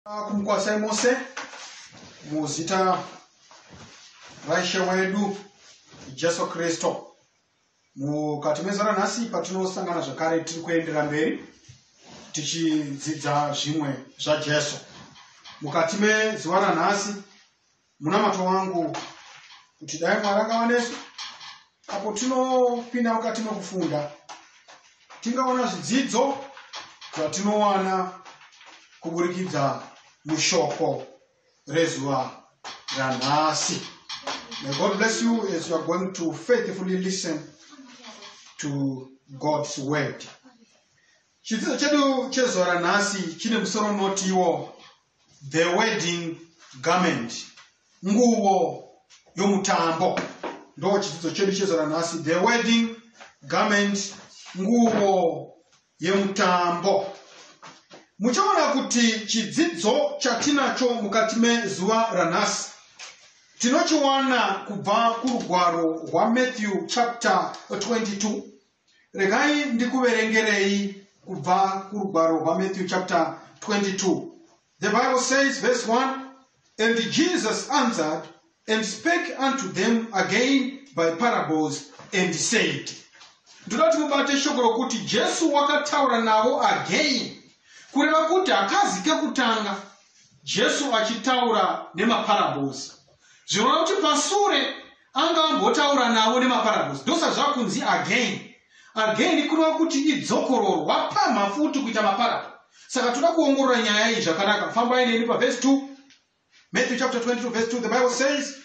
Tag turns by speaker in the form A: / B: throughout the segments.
A: kumukwasai mose muzita raishe wedu jesu kristu mukati mezora nhasi patinosangana zvakare tiri kuendera mberi tichidzidza zvimwe zvajesu mukati mezuva ranhasi Munamato wangu kuti dai Mwari akava nesu apo tinopinda mukati mekufunda tingaona zvidzidzo zvatinowana kuburikidza mushoko rezuva ranhasi. May God bless you as you are going to faithfully listen to God's word. Chidzidzo chedu chezuva ranhasi chine musoro unotiwo The wedding garment, nguvo yomutambo. Ndo chidzidzo chedu chezora nhasi. The wedding garment, nguvo yemutambo. Muchaona kuti chidzidzo chatinacho mukati mezuva ranhasi tinochiwana kubva kurugwaro rwaMatthew chapter 22 Regai ndikuverengerei kubva kurugwaro rwaMatthew chapter 22. The Bible says, verse 1 And Jesus answered and spake unto them again by parables and said, ndoda kuti mubate shoko rokuti jesu wakataura navo again kureva kuti hakazi kekutanga jesu achitaura nemaparables zvinoreva kuti pasure Anga ambotaura navo nemaparables ndosa zvakunzi again again kureva kuti idzokororwa pamha futi kuita maparable saka toda kuongorora nyaya iyi zvakanaka fambai neni pavhesi 2 matthew chapter 22 verse 2 the bible says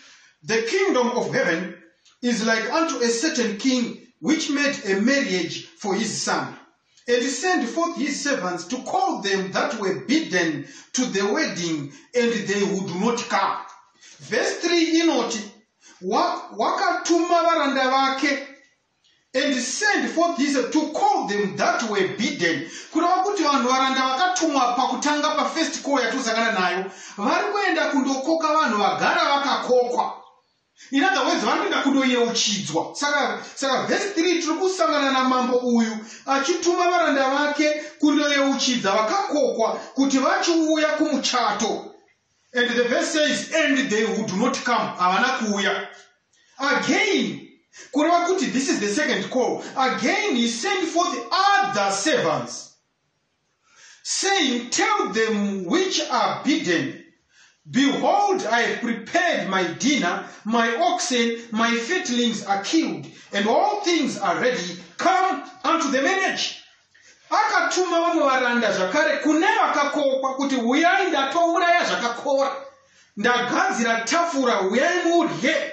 A: the kingdom of heaven is like unto a certain king which made a marriage for his son And send forth his servants to call them that were bidden to the wedding, and they would not come. Verse 3 inoti, Wakatuma wa varanda vake and send forth his to call them that were bidden kureva kuti vanhu varanda vakatumwa pakutanga pafirst call yatosangana nayo vari kuenda kundokoka vanhu vagara vakakokwa In other words, vari kuenda kundoyeuchidzwa. Saka, saka verse 3 tiri kusangana namambo uyu achituma varanda vake kundoyeuchidza vakakokwa kuti vachiuya kumuchato. And the verse says, and they who do not come, havana kuuya. Again, kureva kuti this is the second call. Again, he sent forth other servants. saying, Tell them which are bidden, Behold, I have prepared my dinner, my oxen, my fatlings are killed, and all things are ready. Come unto the marriage. akatuma vamwe varanda zvakare kune vakakokwa kuti huyai ndatouraya zvakakora ndagadzira tafura huyai mudye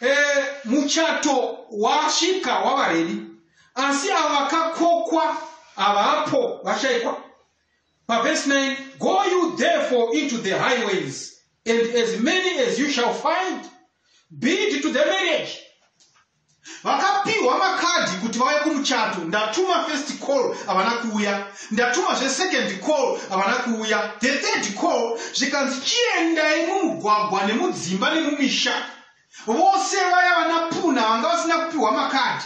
A: Eh, muchato wasvika wava redi asi avo vakakokwa havapo vashaikwa pavhesi 9 go you therefore into the highways and as many as you shall find bid to the marriage Vakapihwa makadhi kuti vauye kumuchato ndatuma first call havana kuuya ndatuma zve second call havana kuuya the third call zvikanzi chiendai mumugwagwa nemudzimba nemumisha vose vaya vana puna vanga vasina kupihwa makadhi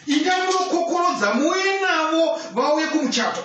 A: indai munokokorodza muuye navo vauye kumuchato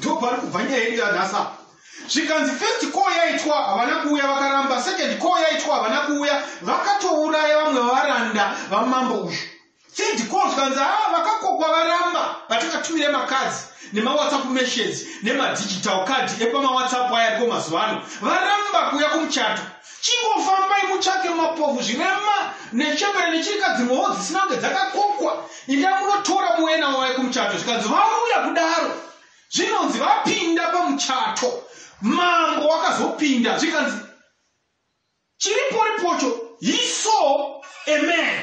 A: Ndopari kubva nyaya yedu yanhasi apa. Zvikanzi first call yaitwa havana kuuya vakaramba, second call yaitwa havana kuuya vakatouraya vamwe varanda vamambo uyu. Third call zvikanzi haa ah, vakakokwa varamba vatakatumire makadzi nemawhatsapp messages nemadigital card epamawhatsapp aya ariko mazuva ano varamba kuuya kumuchato. Chingofambai mutsvake mapofu, zvirema, nechembere nechirikadzi mhowo dzisina kunge dzakakokwa. Indai munotora muuye navo vauye kumuchato. Zvikanzi vauya kudaro, zvinonzi vapinda pamuchato. Mambo wakazopinda, zvikanzi chiriporipocho, he saw a man.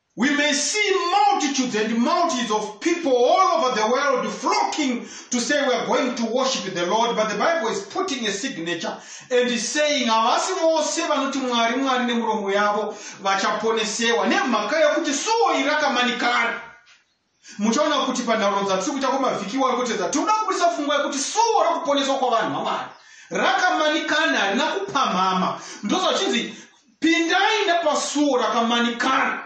A: We may see multitudes and multitudes of people all over the world flocking to say we are going to worship the Lord, but the Bible is putting a signature and is saying havasi vose vanoti Mwari Mwari nemuromo yavo vachaponesewa nemhaka yekuti sowo iri rakamanikana. Muchaona kuti panhaurirano dzatiri kuita kwemavhiki iwayo kutedza, tinoda kubudisa pfungwa yekuti suo rokuponeswa kwavanhu vaMwari rakamanikana, harina kupamhama. Ndozva zvichinzi, Pindai nepasuo rakamanikana.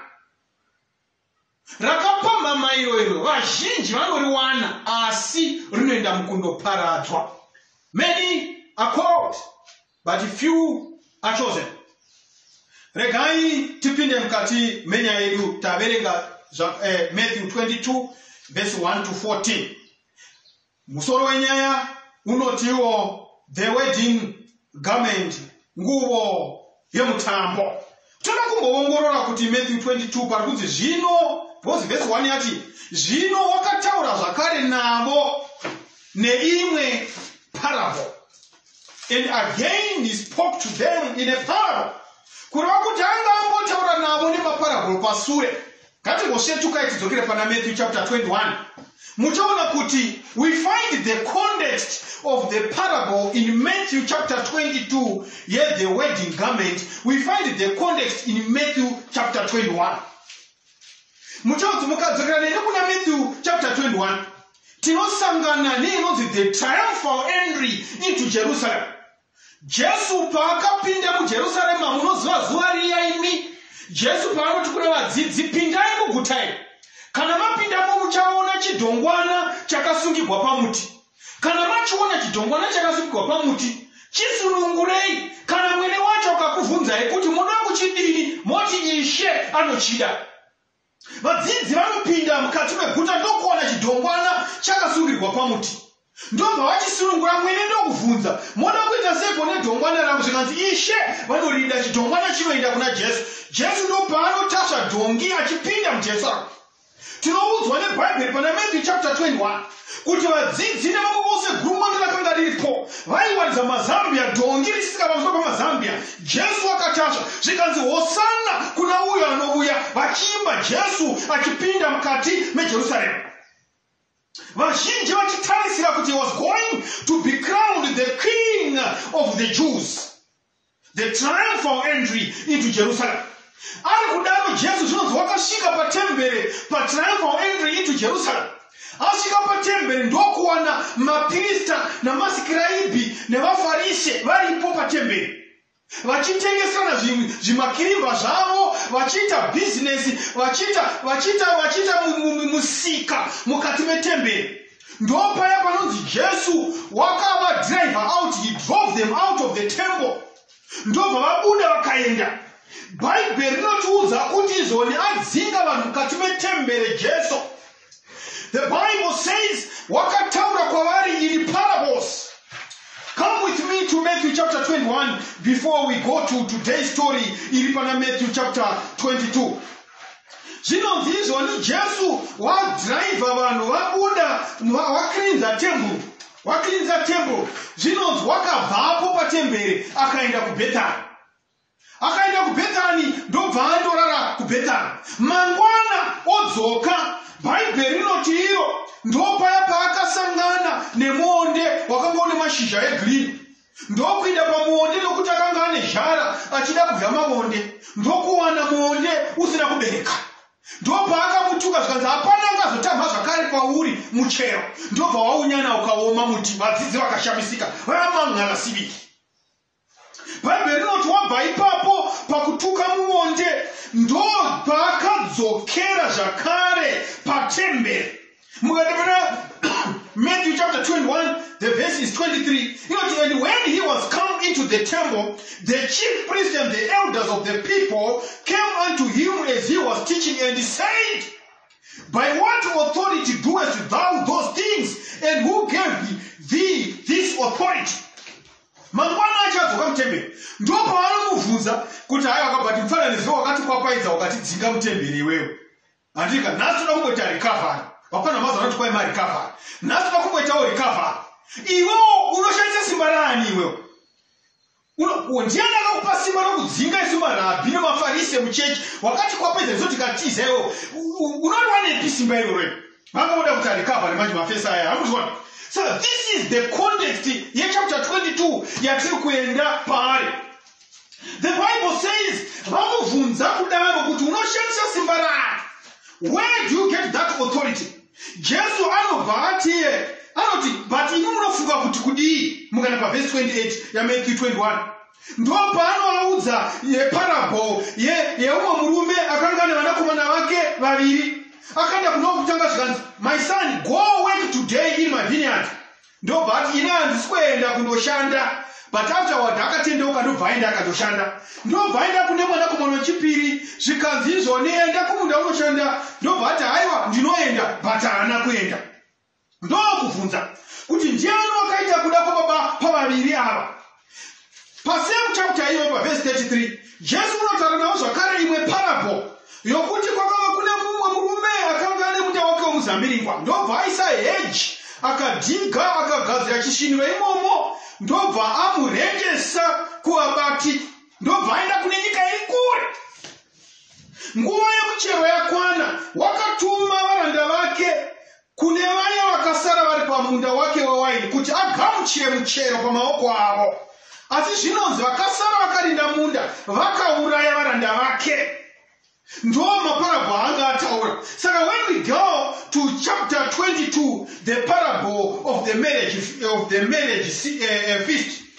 A: Rakapamhama iro iro vazhinji vanoriwana, asi rinoenda mukundoparadzwa. Many are called. but few are chosen regai tipinde mukati menyaya yedu taverenga eh, matthew 22 vese 1 to 14 musoro wenyaya unotiwo the wedding garment nguvo yemutambo Toda kumboongorora kuti Matthew 22 pari kunzi zvino, because verse 1 yati, zvino wakataura zvakare navo neimwe parable. And again he spoke to them in a parable. Kureva kuti anga ambotaura navo nemaparable pasure. Ngatingosvetukai tidzokere pana Matthew chapter 21. Muchaona kuti we find the context of the parable in Matthew chapter 22 yet the wedding garment. We find the context in Matthew chapter 21. Muchaona kuti mukadzokera nene kuna Matthew chapter 21 tinosangana neinonzi the triumphal entry into Jerusalem. Jesu paakapinda muJerusarema, munoziva zuva riya imi, Jesu paanoti kuna vadzidzi, pindai muguta iri. Kana mapindamo muchaona chidhongwana chakasungigwa pamuti. Kana machiona chidhongwana chakasungigwa pamuti, chisunungurei. Kana mwene wacho akakuvhunzai kuti moda kuchidini, moti, Ishe anochida. Vadzidzi vanopinda mukati meguta ndokuwana chidhongwana chakasungirwa pamuti. Ndobva vachisunungura mwene ndokuvhunza, moda kuita sepo nedhongwana rangu? Zvikanzi, Ishe vanorida, chidhongwana chinoenda kuna Jesu. Jesu ndopaanotasva dhongi achipinda muJerusalem. Tinoudzwa neBhaibheri pana Matthew chapter 21. kuti vadzidzi nevamwe vose gurumwando rakanga riripo vaiwaridza mazambia dhongi richisika pamusoro pamazambia jesu wakatasva zvikanzi hosana kuna uyo anouya vachiimba jesu achipinda mukati mejerusaremu vazhinji vachitarisira kuti he was going to be crowned the king of the jews The triumphal entry into Jerusalem. Ari kudaro Jesu zvinonzi wakasvika patembere patriumphal entry into Jerusalem. Asvika patembere ndokuwana mapirista namasikiraibhi nevafarise varipo patembere vachitengesana zvimakirimba zvavo vachiita bhizinesi vachiita vachiita vachiita musika mukati metembere ndopaya panonzi jesu wakava driver out he drove them out of the temple ndobva vabuda vakaenda bhaibheri rinotiudza kuti izoni adzinga vanhu mukati metembere jesu the bible says wakataura kwavari in parables come with me to matthew chapter 21 before we go to today's story iri pana matthew chapter 22 zvinonzi izvoni jesu wadhiraivha vanhu vabuda wakrinza temburu wakrinza temburu zvinonzi wakabvapo patembere akaenda kubhetani akaenda kubhetani ndobva andorara kubhetani mangwana odzoka bhaibheri rinoti iro ndopaya paakasangana nemuonde wakanga une mashizha egreen ndokuinda pamuonde nokuti akanga ane zhara achida kudya mavonde ndokuwana muonde usina kubereka ndopaakamutuka zvikanzi hapana angazotamha zvakare kwauri muchero ndobva waunyana ukaoma muti vadzidzi vakashamisika vamang'ala siviri bhaibheri rinoti wabva ipapo pakutuka muonde ndopaakadzokera zvakare patemberi mukati muna matthew chapter 21 the verse is 23 inoti and when he was come into the temple the chief priest and the elders of the people came unto him as he was teaching and said by what authority doest thou those things and who gave thee this authority mangwana achadzoka mutemberi ndo pavanomubvunza kuti hayi wakabva timfananidzo wakati kwapaidza wakatidzinga mutemberi iwewe Handika nhasi toda kumboita recovery. Hapana maza anoti kwai marecovery. Nhasi toda kumboitawo recovery. Iwewo unoshandisa simba raani iwewo? ndiani akakupa simba rokudzinga isu marabhi nemafarise muchechi wakati kwapedza isu tikatiza iwo unoriwanepi simba iroro vanga voda kuti arikavha nemanje mafesa aya akuzviona so this is the context yechapter 22 yatiri kuenda paari The Bible says, vamubvunza kudaro kuti unoshandisa simba rani? Where do you get that authority? Jesu anobva atiye anoti but imi munofunga kuti kudii mukana pavhesi 28 yamatthew 21 ndo paanovaudza yeparabho yeumwe murume akanga ane vanakomana vake vaviri akaenda kuno kutanga zvikanzi my son go work today in my vineyard Ndobva ati ini handisi kuenda kundoshanda but afterward akatendeuka ndobva aenda akandoshanda ndobva aenda kune mwanakomana wechipiri zvikanzi izvoni enda kumunda unoshanda ndobva ati haiwa ndinoenda but haana kuenda ndokubvunza kuti ndiani wakaita kuda kwababa pavaviri ava Pasame chapter iyoyo pavhesi 33 Jesu unotaura navo zvakare imwe parable yokuti kwakava kune mumwe murume akanga ane muda wake wemuzambiringwa ndobva aisa heji akadhiga akagadzira chisviniro imomo ndobva amurengesa kuvabati ndobva aenda kune nyika iri kure nguva yemuchero yakwana wakatuma varanda vake kune vaya vakasara vari pamunda wake wewaini kuti agamuchire muchero pamaoko avo. Asi zvinonzi vakasara vakarinda munda vakauraya varanda vake. Ndoo maparabho aanga ataura. Saka when we go to chapter 22, the parable of the marriage, of the marriage eh, eh, feast,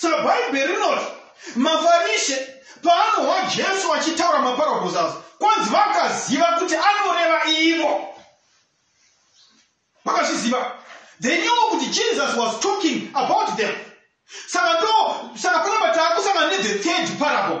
A: saka bhaibheri rinoti mafarishe paanohwa jesu achitaura maparables asa kwanzi vakaziva kuti anoreva ivo vakazviziva they knew kuti jesus was talking about them saka ndo saka panapa taakusangana nethe third parable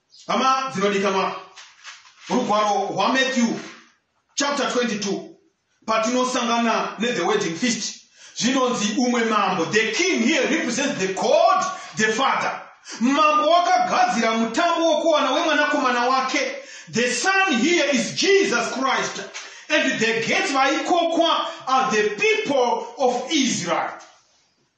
A: hama dzinodikanwa rugwaro rwamatthew chapter 22 patinosangana nethe wedding feast zvinonzi umwe mambo the king here represents the god the father mambo wakagadzira mutambo wokuwana wemwanakomana wake the son here is jesus christ and the gates vaikokwa are the people of israel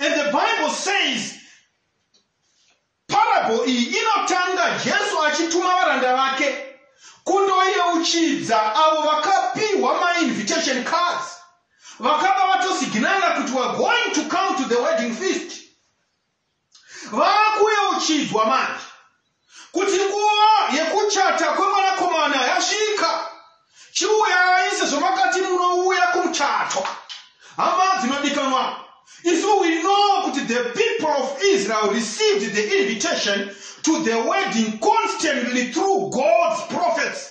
A: And the Bible says parable iyi inotanga Jesu achituma varanda vake kundoyeuchidza avo vakapiwa mainvitation cards vakaba vatosignala kuti we're going to come to the wedding feast Vakuyeuchidzwa manje kuti nguva yekuchata kwemwanakomana yasvika. Chiuyai sezvo makati munouya kumuchato. Hama dzinodikanwa, isu we know kuti the people of Israel received the invitation to the wedding constantly through God's prophets.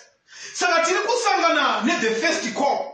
A: Saka tiri kusangana ne the first call.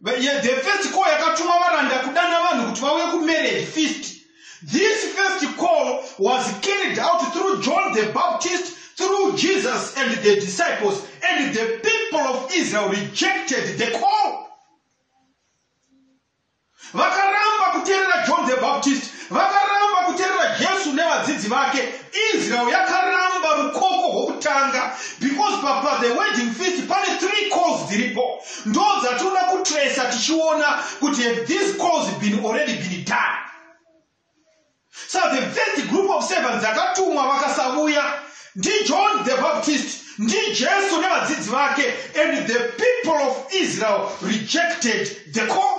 A: The first call yakatuma varanda kudana vanhu kuti vauye kumarriage feast. This first call was carried out through John the Baptist, through Jesus and the disciples, and the people of Israel rejected the call. Vakaramba kuterera John the Baptist, vakaramba kuterera Jesu nevadzidzi vake. Israel yakaramba rukoko rwokutanga because papa the wedding feast pane three calls dziripo. Ndodzatoda kutracer tichiona kuti have these calls been already been done. So the first group of servants dzakatumwa vakasavuya ndiJohn the Baptist ndiJesu nevadzidzi vake and the people of Israel rejected the call.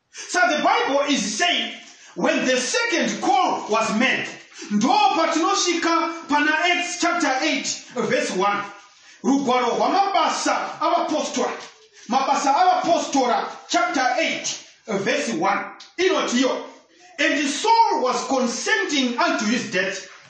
A: So the Bible is saying when the second call was made, ndo patinosvika pana Acts chapter 8 verse 1. Rugwaro rwamabasa avapostora. Mabasa avapostora chapter 8 verse 1. Inotiyo. And Saul was consenting unto his death.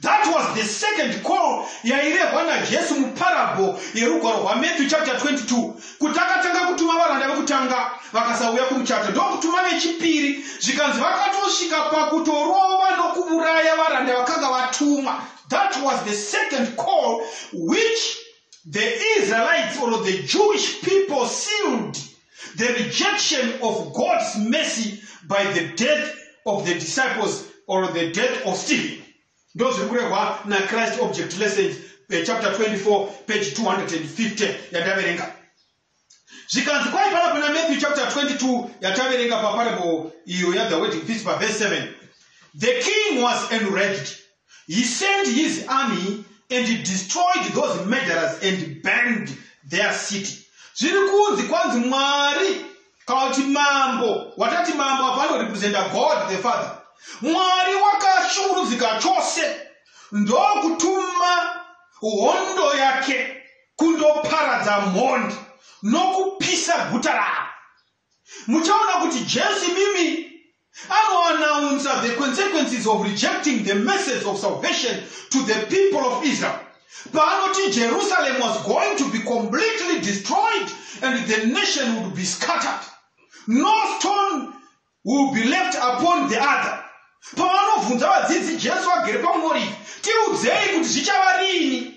A: That was the second call yairehwa naJesu muparable yerugwaro rwaMatthew chapter 22 kuti akatanga kutuma varanda vekutanga vakasauya kumuchato ndokutuma vechipiri zvikanzi vakatosvika pakutorova nokuuraya varanda vakanga vatumwa. That was the second call which the Israelites or the Jewish people sealed The rejection of God's mercy by the death of the disciples or the death of Stephen. Ndo zviri kurehwa na Christ Object Lessons eh, chapter 24 page 250 yataverenga. Zvikanzi kwai pana kuna Matthew chapter 22 yataverenga pa parable iyo ya the wedding feast pa verse 7. The king was enraged He sent his army and destroyed those murderers and burned their city. Zviri kunzi kwanzi Mwari kana kuti mambo watati mambo apa anorepresenta God the Father. Mwari wakashungurudzika chose ndokutuma hondo yake kundoparadza mhondi nokupisa guta ravo. Muchaona kuti Jesu imimi anoanaunza the consequences of rejecting the message of salvation to the people of Israel. Paanoti Jerusalem was going to be completely destroyed and the nation would be scattered. No stone will be left upon the other. Pavanobvunza vadzidzi Jesu agere pamuorivhi, tiudzei kuti zvichava rini?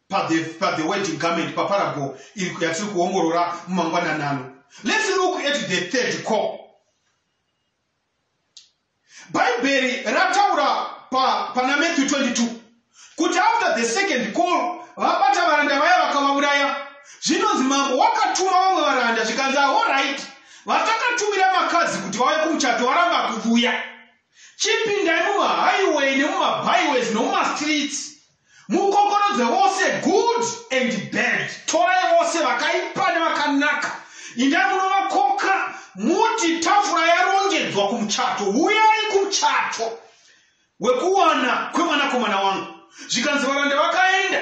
A: pathe pathe wedding garment paparago yatiri kuongorora mumangwananano let's look at the third call bhaibheri rataura pa, pana matthew 22 kuti after the second call vabata varanda vaya vakavauraya zvinonzi mambo wakatuma vamwe varanda zvikanzi ahorit vatakatumira makadzi kuti vauye kumuchato varamba kuvuya chipindai mumahaiway nemumabhiways nemumastreets Mukokorodze vose, good and bad. Torai vose, vakaipa nevakanaka, indai munovakoka, muti, Tafura yarongedzwa kumuchato, huyai kumuchato wekuwana kwemwanakomana wangu. Zvikanzi varanda vakaenda,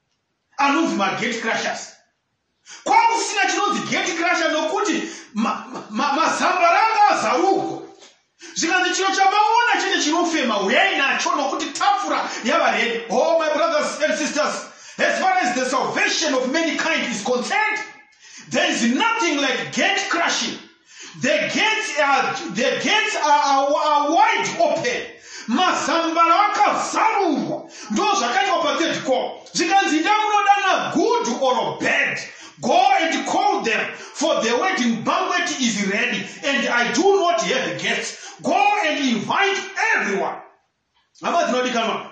A: anonzi magate crushers kwakusina chinonzi gate crusher nokuti mazambaranga azarurwa zvikanzi chiro chamaona chete chinofema huyai nacho nokuti tafura yava redi o oh, my brothers and sisters as far as the salvation of many kind is concerned there is nothing like gate crushing The gates are, the gates are, are, are wide open. Mazambara akazarurwa. Ndoo zvakaitwa pa third call. Zvikanzi enda kunodana good or bad. Go and call them for the wedding banquet is ready and I do not have guests. Go and invite everyone. Hama dzinodikanwa.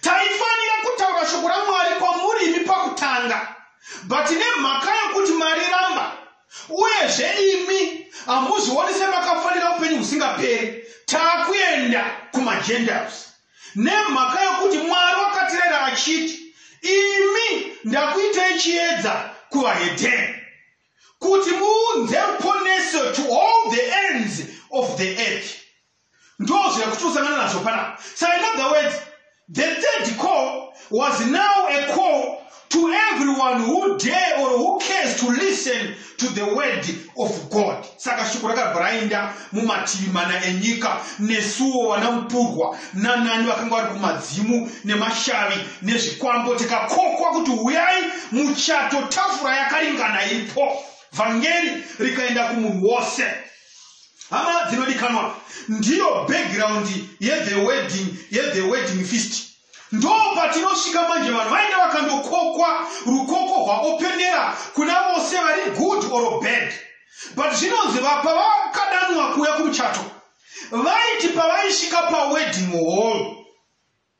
A: Taifanira kutaura shoko raMwari kwamuri imi pakutanga but nemhaka yokuti mariramba uyezve imi hamuzvioni semakafanira upenyu husingaperi taakuenda kumaGentiles nemhaka yokuti Mwari wakatirera achiti imi ndakuitei chiedza kuvahedheni kuti muunze ruponeso to all the ends of the earth. Ndozvo yakuti usangana nazvo panapa. So in other words, the third call was now a call to everyone who dare or who cares to listen to the word of god saka shoko rakabva rainda mumativi mana enyika nesuwo vana mupurwa nanani vakanga vari kumadzimu nemashavi nezvikwambo tikakokwa kuti huyai muchato tafura yakaringana iripo vhangeri rikaenda kumunhu wose hama dzinodikanwa ndiyo background yethe wedding yethe wedding fist ndo patinosvika manje vanhu vainge vakandokokwa rukoko rwaopenera kuna vose vari good or bad but zvinonzi vapa vakadanwa kuuya kumuchato vaiti pavaisvika pawedding hall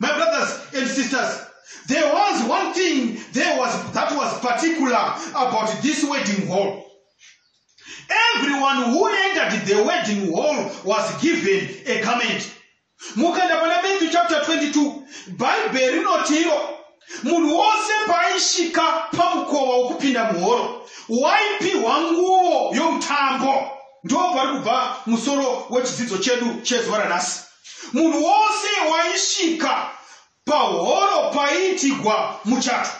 A: My brothers and sisters, there was one thing there was, that was particular about this wedding hall. Everyone who entered the wedding hall was given a garment. Mukaenda pana Matthew chapter 22, Bible rinotiro munhu wose paaisvika pamukova wokupinda muhoro waipihwa nguvo yomutambo. Ndipo pari kubva musoro wechidzidzo chedu chezuva ranhasi. Munhu wose waisvika pahoro paiitigwa muchato.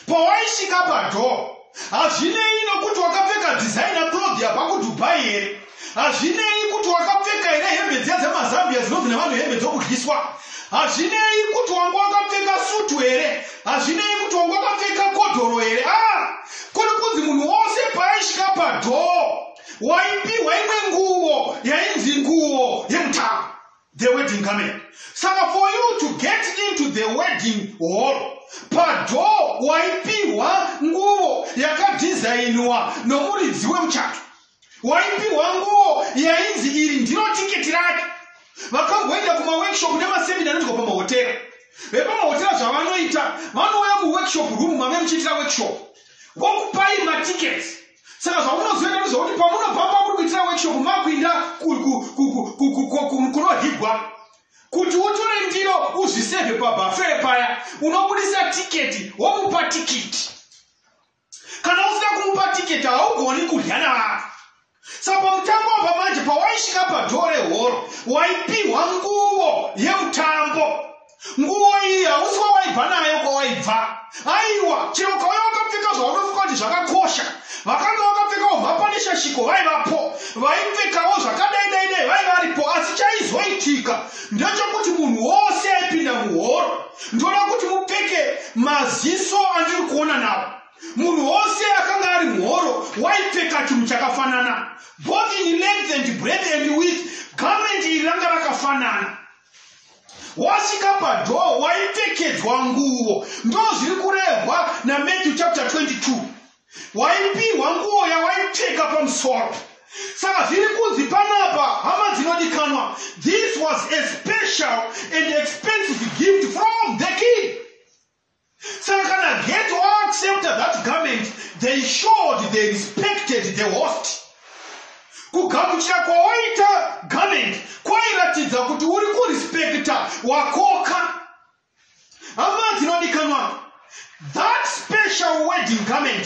A: Pawaisvika padoor, hazvinei nokuti wakapfeka designer cloth yabva kuDubai here, hazvinei kuti wakapfeka here hembe dziya dzemazambia dzinonzi nevanhu hembe dzokudyiswa, hazvinei kuti wanga wakapfeka sutu here, hazvinei kuti wanga wakapfeka kodhoro here, ah, kuri kunzi munhu wose paaisvika padoor waipihwa imwe nguvo yainzi nguvo yemutaro the wedding garment saka for you to get into the wedding hall padoo waipihwa nguvo yakadhizainiwa nomuridzi wemuchato waipihwa nguvo yainzi iri ndiro tiketi rake vakamboenda kumaworkshop nemasemina anoitwa pamahotera vepamahotera zvavanoita vanouya muworkshop room mave muchiitira workshop vokupai matiketi saka zvamunozoita ndezvekuti pamunobva pamuri kuitira workshop makuinda ku- ku- ku- ku- ku- ku- ku- ku- kunohigwa kuti utore ndiro uzvisevhe pabafee paya unobudisa tiketi womupa tikiti kana usina kumupa tiketi haugoni kudya navanhu saka pamutambo apa manje pawaisvika padhoo rehoro waipihwa nguvo yemutambo nguwo iyi hausi wawaibva nayo kwawaibva aiwa chero ukauya wakapfeka zvaunofunga kuti zvakakosha vakanga vakapfekawo mhapaneshashiko vaivapo vaipfekawo zvakadai dai dai vai varipo asi chaizoitika ndechokuti munhu wose aipinda muhoro ndoda kuti mupfeke maziso andiri kuona navo munhu wose akanga ari muhoro waipfeka chinhu chakafanana both in length and breath and with garment iri ranga rakafanana wasvika padhoo waipfekedzwa nguo ndo zviri kurehwa namatthew chapter 22 waipihwa nguo yawaipfeka pamusoro saka zviri kunzi panapa hama dzinodikanwa this was a special and expensive gift from the king Saka kana ghetto accepted that garment they showed they respected the host. Kugamuchira kwawaita garment kwairatidza kuti uri kurespecta wakoka. Hama dzinodikanwa, that special wedding garment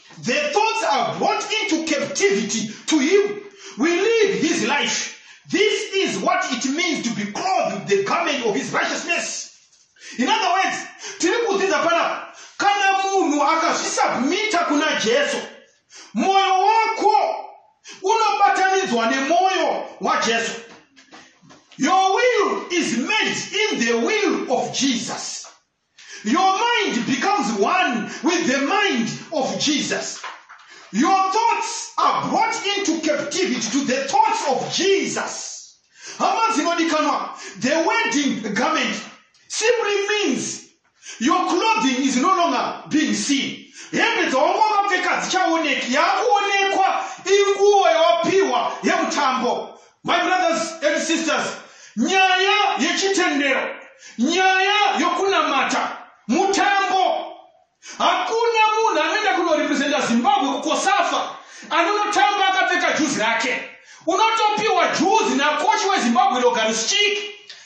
A: The thoughts are brought into captivity to him. We live his life. This is what it means to be clothed with the garment of his righteousness. In other words, tiri kudzidza panapa kana munhu akazvisubmita kuna Jesu, moyo wako unobatanidzwa nemoyo waJesu. Your will is made in the will of Jesus. Your mind becomes one with the mind of Jesus. Your thoughts are brought into captivity to the thoughts of Jesus. Hama dzinodikanwa, the wedding garment simply means your clothing is no longer being seen. Hembe dzawanga wakapfeka dzichaoneki, yakuonekwa inguwo yawapiwa yemutambo. My brothers and sisters, nyaya yechitendero, nyaya yokunamata, mutambo. Hakuna munhu anoenda kunorepresenta Zimbabwe kukosafa anonotamba akapfeka juzi rake. Unotopiwa juzi nakochi weZimbabwe Logan Schik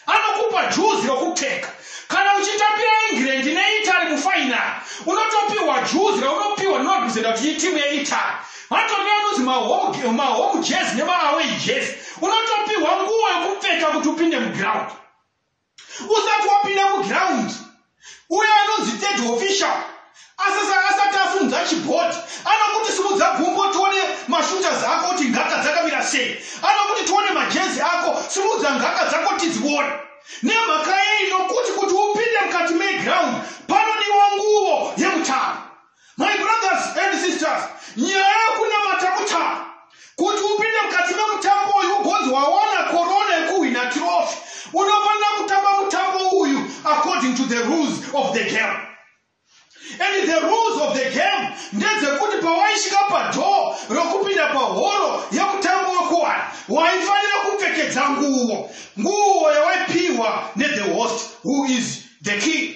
A: Anokupa juzi rokupfeka. Kana uchitambira England neItaly mufainari, unotopihwa juzi raunopihwa nemarepresenta kuti itimu yeItaly. Hatori neanonzi mahome mahome jersey nemaaway jersey. Unotopihwa nguo yokupfeka kuti upinde mugiraundi. Usati wapinda mugiraundi, uyo anonzi third official asasa asati asimudza chibhodhi anokuti simudza gumbo tione mashooters ako kuti ngaka dzakamira sei anokuti tione majezi ako simudza ngaka dzako tidzione nemhaka yei nokuti kuti upinde mukati meground panodiwa nguvo yemutambo My brothers and sisters, nyaya yokunamata kutamba kuti upinde mukati memutambo uyu ugonzi waona korona yekuhwina tirofi unofanira kutamba mutambo uyu according to the rules of the game and the rules of the game ndedzekuti pawaisvika padhoo rokupinda pahoro yemutambo wekuwana waifanira kupfekedza nguvo nguvo yawaipiwa nethe host who is the king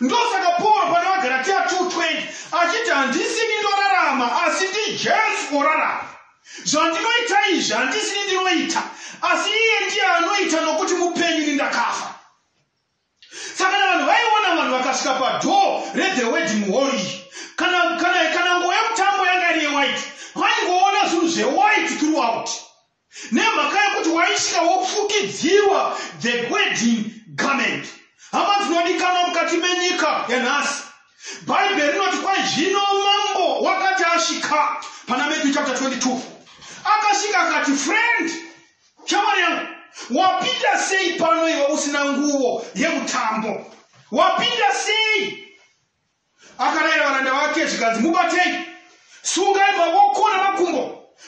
A: ndosaka pauro pana vagaratia 220 achiti handisini ndorarama asi ndijesu orarama zvandinoita izvi handisini ndinoita asi iye ndiye anoita nokuti mupenyu ni ndakafa saka na vanhu vaiona vanhu vakasvika padhoo rethe wedding hall iyi kana kana kana ngo yemutambo yanga iri yewhite vaingoona zvinhu zvewhite throughout Nemhaka yekuti waisvika wofukidzirwa the wedding garment. Hama dzinodikanwa mukati menyika yanhasi, Bhaibheri rinoti kwai zvino mambo wakati asvika pana Matthew chapter 22 akasvika akati, friend, shamwari yangu, wapinda sei pano iwe usina nguvo yemutambo? Wapinda sei? akarayira varanda vake zvikanzi mubatei sungai mavoko namakumbo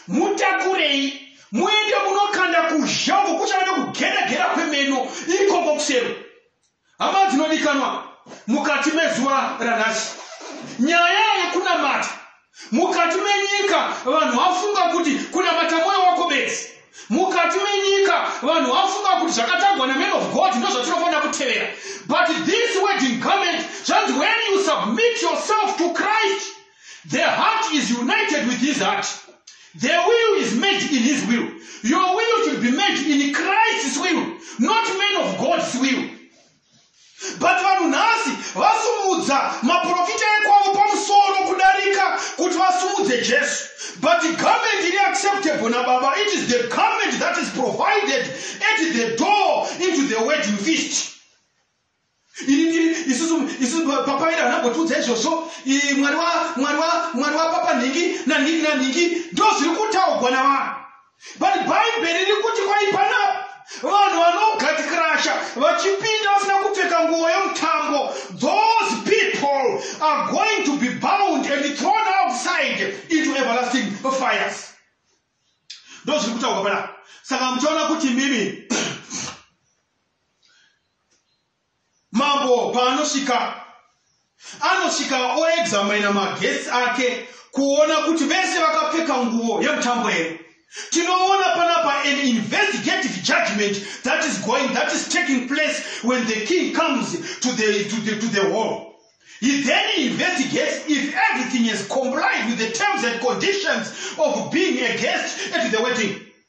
A: mutakurei muende munokanda kuzha uko kuchava nekugera gera kwemeno ikoko kusero hama dzinodikanwa mukati mezuva ranhasi nyaya yekunamata Mukati menyika vanhu vafunga kuti kunamata mwoyo wako bedzi. Mukati menyika vanhu vafunga kuti zvakatagwa neman of God ndozvatinofanira kutevera. But this wedding garment zvanzi when you submit yourself to Christ the heart is united with his heart. The will is made in his will. Your will should be made in Christ's will, not man of God's will. but vanhu nhasi vasumudza maprofita ekwavo pamusoro kudarika kuti vasumudze jesu but garment iri acceptable nababa it is the garment that is provided at the door into the wedding feast papaira anambotiudza izvozvo mwari wapapa nhingi nanhingi nanhingi ndozviri kutaugwa navanhu but bhaibheri riri kuti kwai panapa vanhu vanogatikirasha vachipinda vasina kupfeka nguvo yemutambo those people are going to be bound and thrown outside into everlasting fires ndozviri kutaurwa panapa saka muchaona kuti mimi Mambo paanosvika anosvika oexamina maguests ake kuona kuti vese vakapfeka nguvo yemutambo here. Tinoona panapa an investigative judgment that is going that is taking place when the king comes to the, to the, to the hall. He then investigates if everything has complied with the terms and conditions of being a guest at the wedding.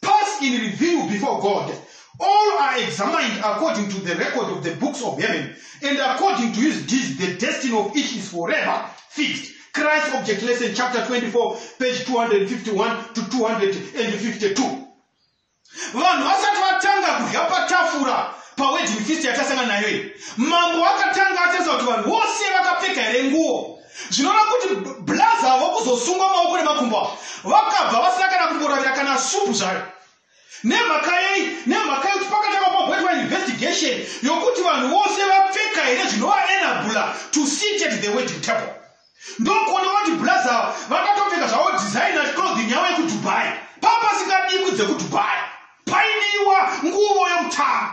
A: Pass in review before God. All are examined according to the record of the books of heaven, and according to his deeds, the destiny of each is forever fixed. Christ Object Lesson, chapter 24, page 251 to 252. vanhu vasati vatanga kudya patafura pawedding feast yatasanga nayo iyi mambo akatanga atarisa kuti vanhu vose vakapfeka here nguo zvinoreva kuti blaza avo kuzosungwa maoko nemakumbo avo vakabva vasina kana kumboravira kana supu zvayo nemhaka yei nemhaka yekuti pakatanga pagoitwa investigation yokuti vanhu vose vapfeka here zvinovaenabula to sit at the wedding table ndokuona kuti blaza ava vakatopfeka zvavo designa clothing yavo yekudubai papasingadikwi dzekudubai paidiwa nguvo yemutano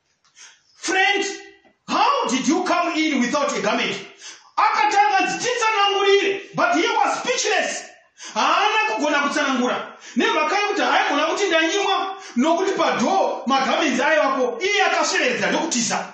A: Friend, how did you come in without a garment? Akatanga anzi titsanangurire but he was speechless. Haana kugona kutsanangura nemhaka yekuti haigona kuti ndanyimwa nokuti padhoo magamenzi aivapo iye akasvereredza ndokutiza.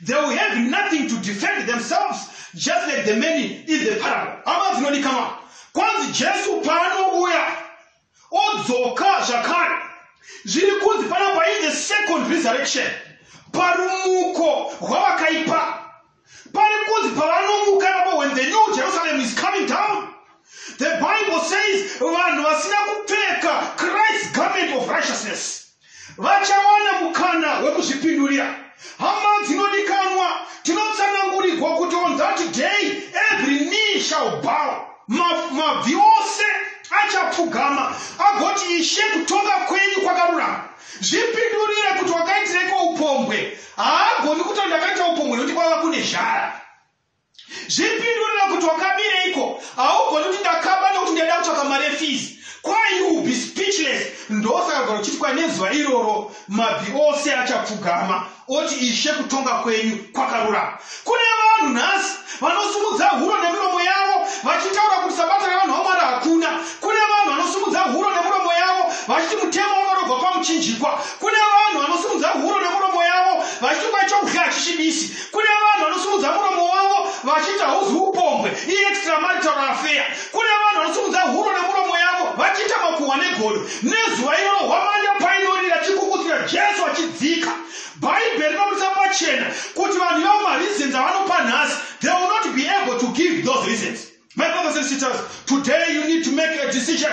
A: They will have nothing to defend themselves just like the many in the parable. Hama dzinodikanwa. Kwanzi Jesu paanouya odzoka zvakare. Zviri kunzi panapa in the second resurrection parumuko rwavakaipa. Pari kunzi pavanomuka napo when the new Jerusalem is coming down. The Bible says vanhu vasina kupfeka Christ's garment of righteousness. vachawana mukana wekuzvipindurira. Hama dzinodikanwa, tinotsanangurirwa kuti on that day every knee shall bow, Ma- mabvi ose achapfugama agoti, Ishe, kutonga kwenyu kwakarurama. Zvipindurire kuti wakaitireko upombwe. Haagoni kuti ndakaita upombwe nekuti kwava kune zhara. zvipindurira kuti wakamireiko haugoni kuti ndakaba nokuti ndaida kutsvaka mari efees kwai you be speechless ndosaka gona uchiti kwai nezuva iroro mabhi ose achapfugama oti ishe kutonga kwenyu kwakarurama kune vanhu nhasi vanosimudza huro nemiromo yavo vachitaura kuti sabata revanhu vamwari hakuna kune vanhu vanosimudza huro nemiromo yavo vachiti mutemo unorobva pamuchinjikwa kune vanhu vanosimudza huro nemiromo yavo vachiti kwai chokudya hachichibisi kune vanhu vanosimudza muromo wavo vachiti hauzi upombwe iextramarital affair kune vanhu vanosimudza huro nemuromo yavo vachiita makuhwa negodo nezuva iroro hwamanda painorira chikukudzira jesu achidzika bhaibheri rinoburitsa pachena kuti vanhu ivavo mareasons avanopa nhasi they will not be able to give those reasons my brothers and sisters today you need to make a decision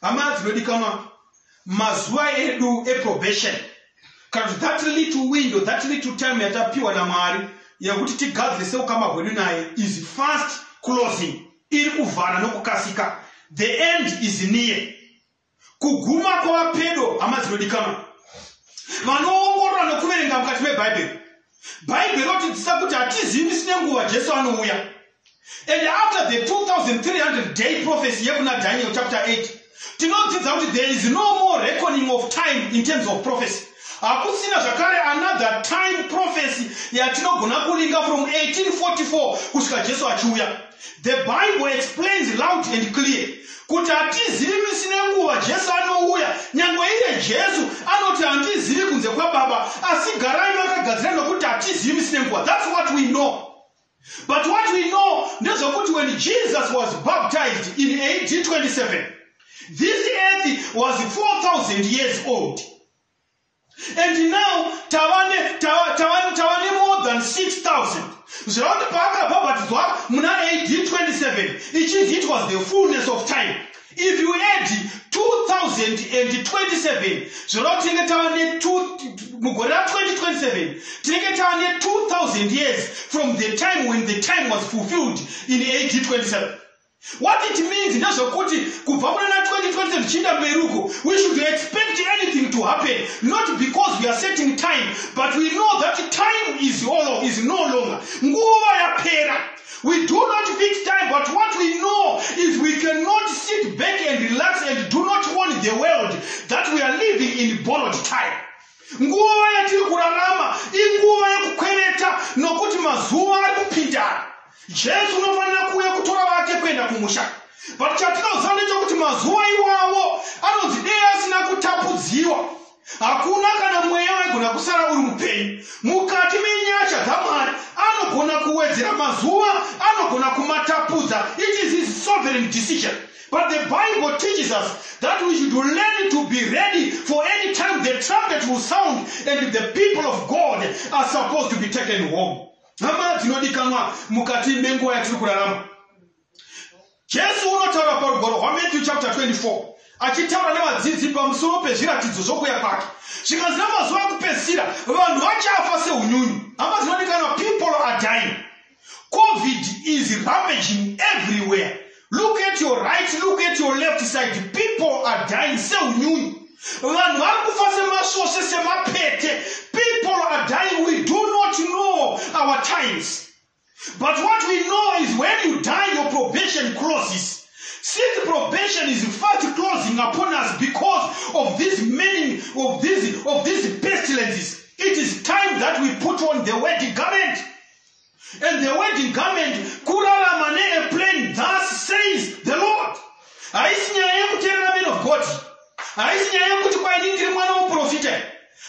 A: Hama dzinodikanwa, mazuva edu eprobation kana kuti that little window, that little time yatapiwa naMwari yekuti tigadzirise ukama hwedu naye is fast closing, iri kuvhara nokukasika. The end is near. Kuguma kwava pedo, hama dzinodikanwa. Vanoongorora nokuverenga mukati meBhaibheri. Bhaibheri rotidzisa kuti hatizivi sine nguva Jesu anouya. And after the 2300 day prophecy yekuna Daniel chapter 8, tinodzidza kuti there is no more reckoning of time in terms of prophecy. Hakusina zvakare another time prophecy yatinogona kulinga from 1844 kusvika Jesu achiuya. The Bible explains loud and clear kuti hatizivi misi nenguva Jesu anouya. Nyange iye Jesu anoti handizivi kunze kwaBaba, asi garai makagadzira nokuti hatizivi misi nenguva. That's what we know. But what we know ndezvekuti when Jesus was baptized in AD 27, this earth was 4,000 years old. And now tavane, tava, tava, tavane more than 6,000. Zvirava kuti paakabhabhatidzwa muna AD 27, it is it was the fullness of time. If you add 2027 zvoreva tinenge tava ne mugore ra 2027 tinenge tava ne 2000 years from the time when the time was fulfilled in ad 27 what it means ndezvekuti kubva muna 2027 zvichiinda mberi uko we should expect anything to happen not because we are setting time but we know that time is, all, is no longer nguva yapera We do not fix time, but what we know is we cannot sit back and relax and do not warn the world that we are living in borrowed time. Nguva yatiri kurarama inguva yekukwereta nokuti mazuva ari kupindana. Jesu unofanira kuuya kutora vake kuenda kumusha. But chatinoziva ndechokuti mazuva iwawo anonzi dei asina kutapudziwa. Hakuna kana mweya waigona kusara uri mupenyu. Mukati menyasha dzaMwari, anogona kuwedzera mazuva, anogona kumatapudza. It is his sovereign decision. But the Bible teaches us that we should learn to be ready for any time the trumpet will sound and the people of God are supposed to be taken home. Hama dzinodikanwa mukati menguva yatiri kurarama. Jesu unotaura parugwaro rwaMatthew chapter 24 achitaura nevadzidzi pamusoro pezviratidzo zvokuya kwake zvikanzi namazuva ekupedzisira vanhu vachafa seunyunyu hama dzinodikanwa people are dying covid is ravaging everywhere look at your right look at your left side people are dying seunyunyu vanhu vari kufa semasvosve semapete people are dying we do not know our times But what we know is when you die, your probation closes. Since probation is fast closing upon us because of this meaning of these of these pestilences, it is time that we put on the wedding garment. And the wedding garment, kurarama neairplane, thus says the Lord. Haisi nyaya yekuterera men of God. Haisi nyaya yekuti kwaini ndiri mwana woprofita.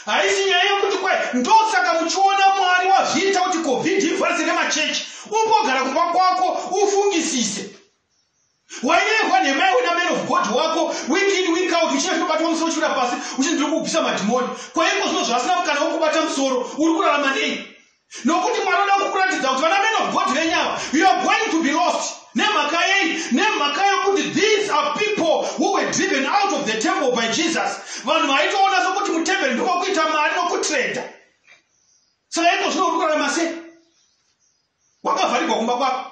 A: haisi nyaya yekuti kwai ndosaka muchiona mwari wazviita kuti covid ivharse nemachechi umbogara kumba kwako ufungisise wairehwa nhema yawe naman of god wako week in week out uchina zvinobatwa musoro uchira pasi uchinziri kubvisa madhimoni kwaiko zvino zvaasina kana ukubata musoro uri kurarama nei nokuti mwari vanoda kukuratidza kuti vana men of god venyu ava you are going to be lost nemhaka yei nemhaka yokuti these are people who were driven out of the temple by jesus vanhu vaitoona sokuti mutemberi ndokokuita mari nokutreda saka ito zvino uri kurarama sei wakavharigwa kumba kwako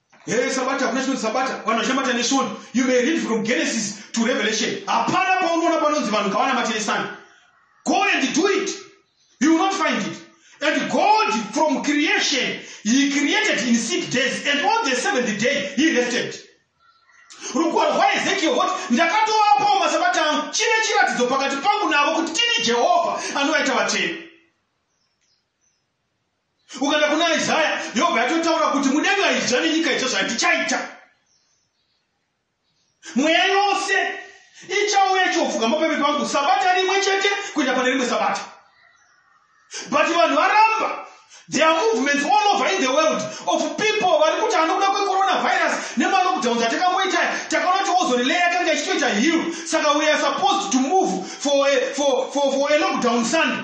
A: Hey, eh, sabata hakuna chinonzi sabata vanhu vachinamata nesvondo you may read from genesis to revelation hapana paunoona panonzi vanhu ngavanamate nesani go and do it you will not find it and god from creation he created in six days and on the seventh day he rested rugwaro rwaezekiel woti ndakatovapawo masabata angu chine chiratidzo pakati pangu navo kuti tini jehovha anovaita vatsvene ukada kuna isaya yobva yatotaura kuti mudenga izha nenyika izha zvandichaita mweya yose ichauya ichiofuga mapeve pangu sabata rimwe chete kuenda pane rimwe sabata but vanhu varamba there are movements all over in the world of people vari kuti anokuda kwecoronavirus nemalockdowns atakamboita takaona kuti ozorelay yakanga ichitoita hill saka we are supposed to move for a, for, for, for a lockdown sunday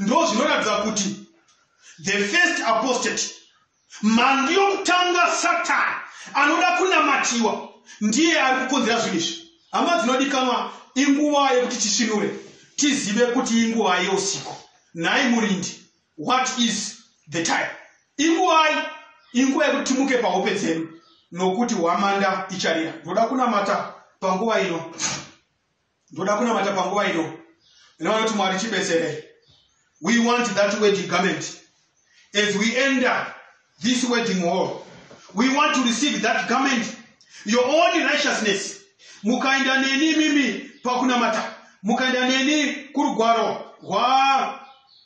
A: ndo zvinoratidza kuti the first apostate mhandu yokutanga satani anoda kunamatiwa ndiye ari kukonzera zvinhu izvi hama dzinodikanwa inguva yekuti tisvinure tizive kuti inguva yeusiku nhai murindi what is the time inguvai inguva yekuti timuke pahope dzedu nokuti hwamanda icharira ndoda kunamata panguva ino ndoda kunamata panguva ino nevanoti mwari tibetserei we want that wedding garment as we enter this wedding hall we want to receive that garment your own righteousness mukaenda neni mimi pakunamata mukaenda neni kurugwaro rwa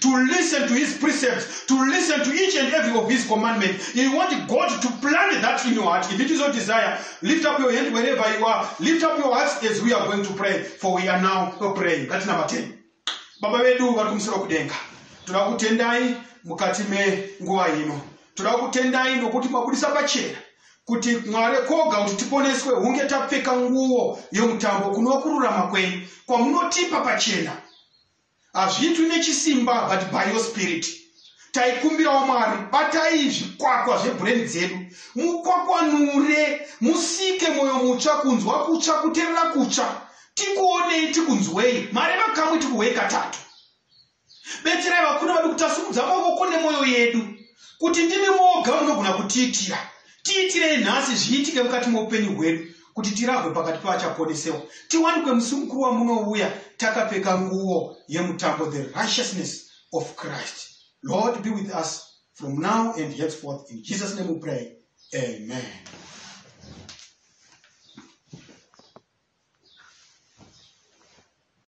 A: to listen to his precepts, to listen to each and every of his commandments. You want God to plant that in your heart. If it is your desire, lift up your hand wherever you are. Lift up your hearts as we are going to pray, for we are now praying. That's number 10. Baba vedu vari kumusoro kudenga. Toda kutendai mukati menguva ino. Toda kutendai nokuti mabudisa pachena kuti mwari koga kuti tiponeswe hunge tapfeka nguo yomutambo kunokururama kwenyu kwamunotipa pachena Hazviitwi nechisimba but by your spirit. Taikumbirawo Mwari batai zvikwakwa zvebrain dzedu mukwakwanure musike moyo mutsva kunzwa kutsva kuterera kutsva tikuonei tikunzwei mareva kamwe tikuhwei katatu. Betserai vakuru vedu kutasimudza mavoko nemoyo yedu kuti ndimi moga munogona kutiitira. Tiitirei nhasi zviitike mukati meupenyu hwedu kuti tirahwe pakati pevachaponesewa, tiwanikwe musi mukuru wamunouya takapfeka nguo yemutambo, the righteousness of Christ. Lord, be with us from now and henceforth. In Jesus' name we pray. Amen.